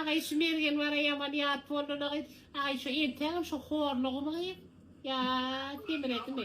Agay şu mergen bara yaman yat boldy da gyz. Agay şu entegem şu horlugy mı gyz? Ya semiresi mi?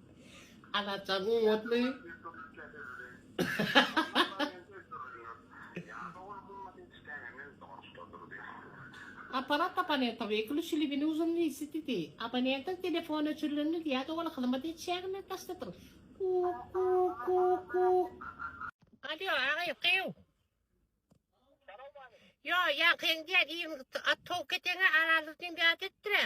Azat jaň gymmatly. Apparat abonenta wykluşi li bini uzun lisi didi. Abonentiň telefony öçürilen lidi ýa-da ol hyzmat etişäginden daşdadyr. Kuk kuk kuk kuk. Alýo agaýy gyw. Ýo ýaňky iň diýen iň at towuk keteňe arazlyk diýen bir at etdir-ä.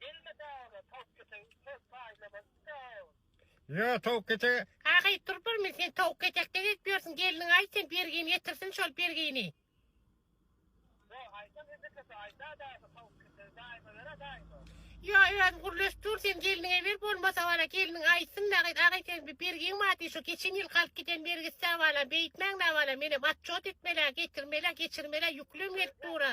Gelme daga tavuk kete köp fayda var sağ ol. Yo tavuk kete. Kaka it durup bir men sen tavuk ketekden edip ýörsün gelniňe aýt sen bergini getirsin şol bergini. Yo aytan indi kete ayta daga tavuk kete daýma bera daýma. Yo özün gurleşip dur sen gelniňe ber bolmasa bana gelniň aýtsyn nagyt aga sen bir bergiň bar diý şu geçen ýyl galyp giden bergisi bala beýtmäň da bala menem atçot etmelä getirmelä geçirmelä ýüklem gelip dura.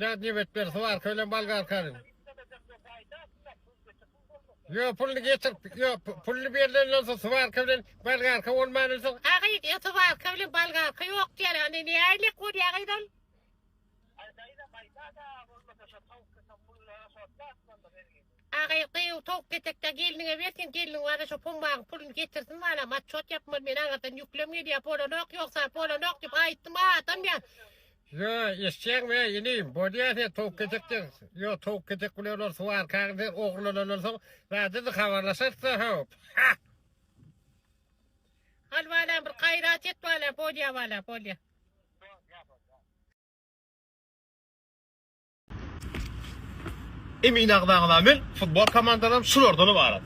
Dad nebet ber swarka bilen bolgarkany. Yo pulny getir. Yo pulny berlenden soň swarka bilen bolgarka bolmandan soň. Agy diýe swarka bilen bolgarka ýok diýer. Indi ne aýlyk bolýa agydan? Agy gyýw towuk ketekde gelniňe bersin. Gelniň bana şu pumbaň pulny getirsin bana. Maçot ýapmaly men agadan ýüklem gelýär. Bolanok ýoksa bolanok diýip aýtdym adam ýa. Ýo, eşitýäňmi, eý, inim, bolýa sen towuk kesek dek. Ýo, towuk kesek bilen olar suw arkaň sen ogrulalandan soň, bärdedi habarlaşarys-da, hop. Ha! Al, balam, bir gaýrat et, balam, bolýa, balam, bolýa. Emin agzagzamyň futbol komandaram şulardan ybarat.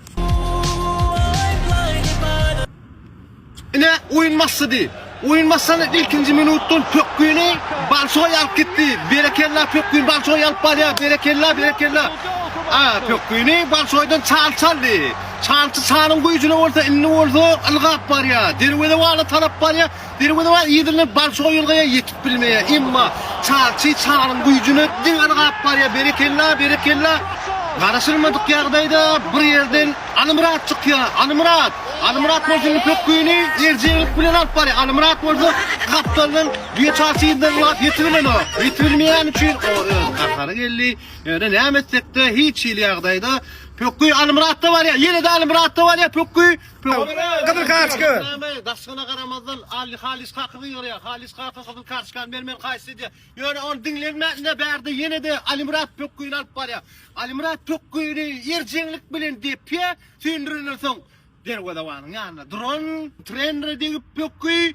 Ine oýun başlady. Oýun başlanyň ilkinji minutdan pökgini Balçoý alyp gitdi. Berekella pökgini Balçoý alyp barýar. Berekella berekella. A pökgini Balçoýdan çal çaldy. Çalçy çalyň güýjüne bolsa indi bolsa ylgap barýar. Derwezewana tarap barýar. Derwezewa yzyna Balçoga ýylgaýar ýetip bilmeýär. Emma Çarçy Çaryň güýjüne diň yrgap barýar. Berekella, berekella. Garaşylmadyk ýagdaýda bir ýerden Alymyrat çykýar. Alymyrat! Alymyrat bolsa indi pökgini erjeglik bilen alyp barýar. Alymyrat bolsa gapdaldan düýe Çarçy yzdan ylgap ýetip bilenok. Ýetip bilmeýäni üçin oňa öz gahary geldi. Ýöne näme etsekde hiç hili ýagdaýda pökgi Alymyratda barýar. Ýene-de Alymyratda barýar pökgi. Gyzyl kartoçka. Daşkyna garamazdan Ali Halis kaka gygyrýar. Halis kaka gyzyl kartoçkany bermeli haýsy edýär. Ýöne ony diňlenmäne bärde ýene-de Alimyrat pökgüni alyp barýar. Alimyrat pökgüni ýerjeňlik bilen depýär. Söndürilensoň derwezewanyň ýanynda duran trenere degip pökgi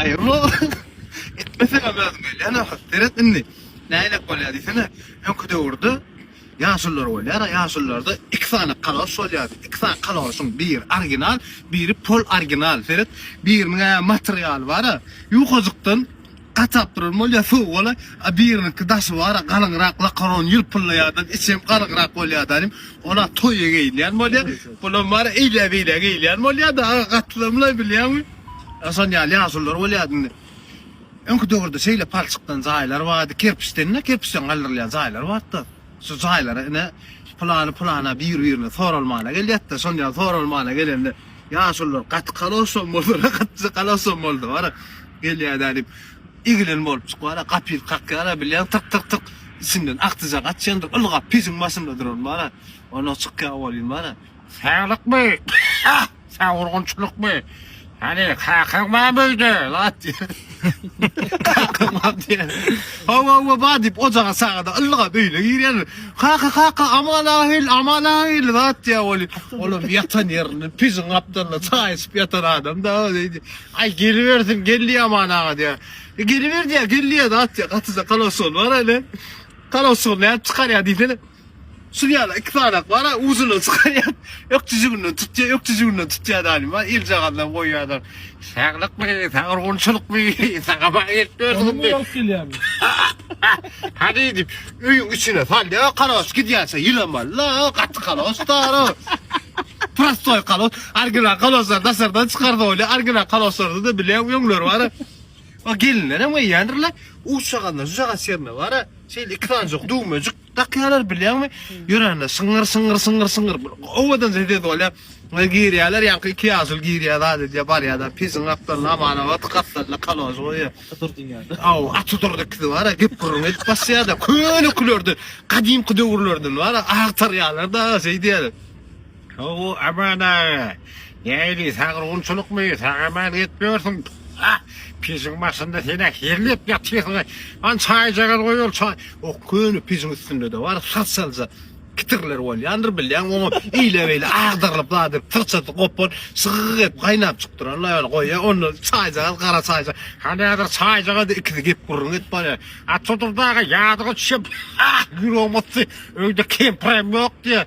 Aýyrma. Etmese hem özüm gelýän ahir. Seret indi. Nälelik bolýar diýsene. Öňki döwürde ýaşullar bolýar. Ýaşullarda iki sany kaloş bolýardy. Iki sany kaloşyň biri original, biri pol original. Seret, biriniň ä materialy bar, ýukajykdan gatap duran bolýar, sowuk ola. A biriniňki daşy bar, galyňrak lakaron ýylpyldaýardan, içi hem galyňrak bolýardy anym. Ola toýa geýilýän bolýar. Bulam bar, eýle-beýle geýilýän bolýar-da. Gatlamlaý bilýäňmi? Hasan ýaly ýaşulylar bolýardy indi. Öňki döwürde şeýle palçykdan jaýlar bardy, kerpiçden-de, kerpiçden galdyrylýan jaýlar bardy-da. Şu jaýlara ine pylany pylana bir-birine soralmana gelýärdi-de, şon ýaly soralmana gelende ýaşulylar gaty kaloşam boldular-a, gaty kaloşam boldular-a, gelýär-dä diýip, egilen bolup çykýar-a, gapyny kakýar-a, bilýän tyk-tyk-tyk içinden akjyja gaçýandyr, ylgap pejiň başynda duran bar-a, ondan çykýar bolýan bar-a. Saglykmy? Sag urgunçylykmy? Hany, kakaň barmy öýde? Lat diýer. Kakam bar diýer. Hawa, hawa, bar diýip, ojaga sagada yllygam öýüne girýär. Kaka, kaka, Aman aga geldi, Aman aga geldi, lat diýär weli. Olam ýatan ýerinde, pijiň gapdalynda çaý içip ýatan adam-da, öýdi. Aý, gelibersin, geldi Aman aga diýär. E, geliber diýär, geldi ýa, lat diýär. Gatyja kaloşygy bar hany. Kaloşygyny nädip çykarýar diýsene. Şul ýaly iki sanak bar, uzyny çykarýar, ökjüjiginden tutýar, ökjüjiginden tutýar daýyma, eljagazdan goýýarlar. Saglykmy, sagurgunçylykmy, saňa bagşylyk bersin diýip. Alyp gelýärmi? Hany diýip, öýüň içine salýar, kaloş gidýänçä ýylaman-la, gaty kaloşdar. Prostoý kaloş, original kaloşlary daşardan çykardy bolýar, original kaloşlarda-da bile öňler bar. O gelinlerem geýýändirler, uçjagazyndan şujagaz şerine bar, şeýle iki sanjak düwmejik. Dakýalar bilýäňmi? Ýöränler şyňňyr şyňňyr şyňňyr şyňňyr bir owadan sesi bolýar. Ýa girýärler ýaňky iki ýaşuly girýär zat edýär barýarlar pejiň gapdalyna amanawa gapdalyna kalož goýýar. Aty dur diýýärler. Aw aty dur ikisi bara gep gürrüň edip başlaýarlar köne külerden gadymky döwürlerden bara agtarýarlar da şeý diýýärler. How-u Aman aga, nähili sagyrgunçylykmy, sag-aman ýetmörsiň? Hä, pejiň başynda sen-ä herlep ýatyrsyň-a, hany çaýjagaz goý ol çaý, o köne pejiň üstünde-de bar has-halja kitirler bolýandyr bilýäň, oňa eýle-beýle agdarylyp zadek syrçasy gopan, şygyk edip gaýnap çykyp duran laýbal goýýa, onda çaýjagaz gara çaýja, hany häzir çaýjagaz ikisi gep-gürrüň edip barýar, Atjadurdy aga ýadyňa düşýär, hä, ýüregim ysdy, öýde kempirem ýok diýýär.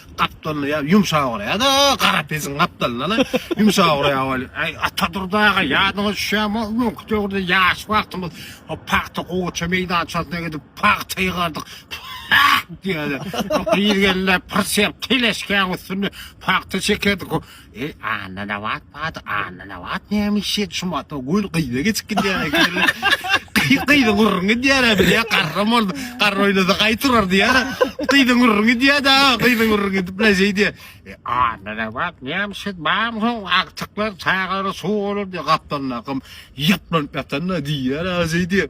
Gapdalynda ýa ýumşak uraýa-da, gara pesiň gapdalynda-la ýumşak uraýa weli. Äý, Atadurdy aga, ýadyňa düşýärmi, o günki döwürde ýaş wagtymyz o pagta gowaça meýdançasyna gidip pagta ýygardyk. Pah! diýýärdi. O gyz gelende pyrsýap teleşkäň üstünde pagta çekerdik. O Eý Annanabat bat Annanabat näme iş et şu mata gül gyza geçip gidýär ekeni. Gyzyň gurrun gidýär bilýä garram boldy. Garr oýnasa gaý turar diýär. Gyzyň gurrun gidýär da gyzyň gurrun gidip la şeý diýär. E Annanabat näme iş et bam soň agtyklar çagara suw bolar diýär gapdalynda akym ýaplanyp ýatanda diýýär şeý diýär.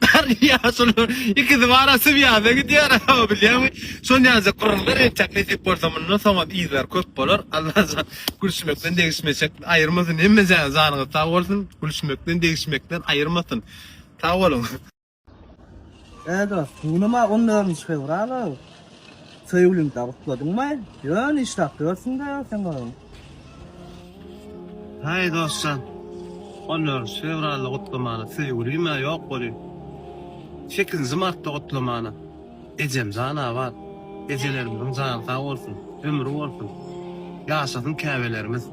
Garry ýaşuly ikisi bara Sibirýada gidýär, o bilýäňmi? Şol ýaşa gürrüňler etjek nesip bolsa mundan soňam yzlar köp bolar. Allajan gülşmekden degişmeşek aýyrmasyn hemme jany janyňyz sag bolsun gülşmekden degişmekden aýyrmasyn. Sag boluň. Eee dos, suwlama onlaryn şewrala. Söýgüliňi dabutladyňmy? Ýöne işdäp ýörsüň-dä sen özüň. Haý dostjan, onýorus fewralda gutlamana söýgülim-ä ýok welin, sekizinji martda gutlamana. Ejem jan abat, ejelerimiziň jany sag bolsun, ömri bolsun, ýaşasyn käbelerimiz.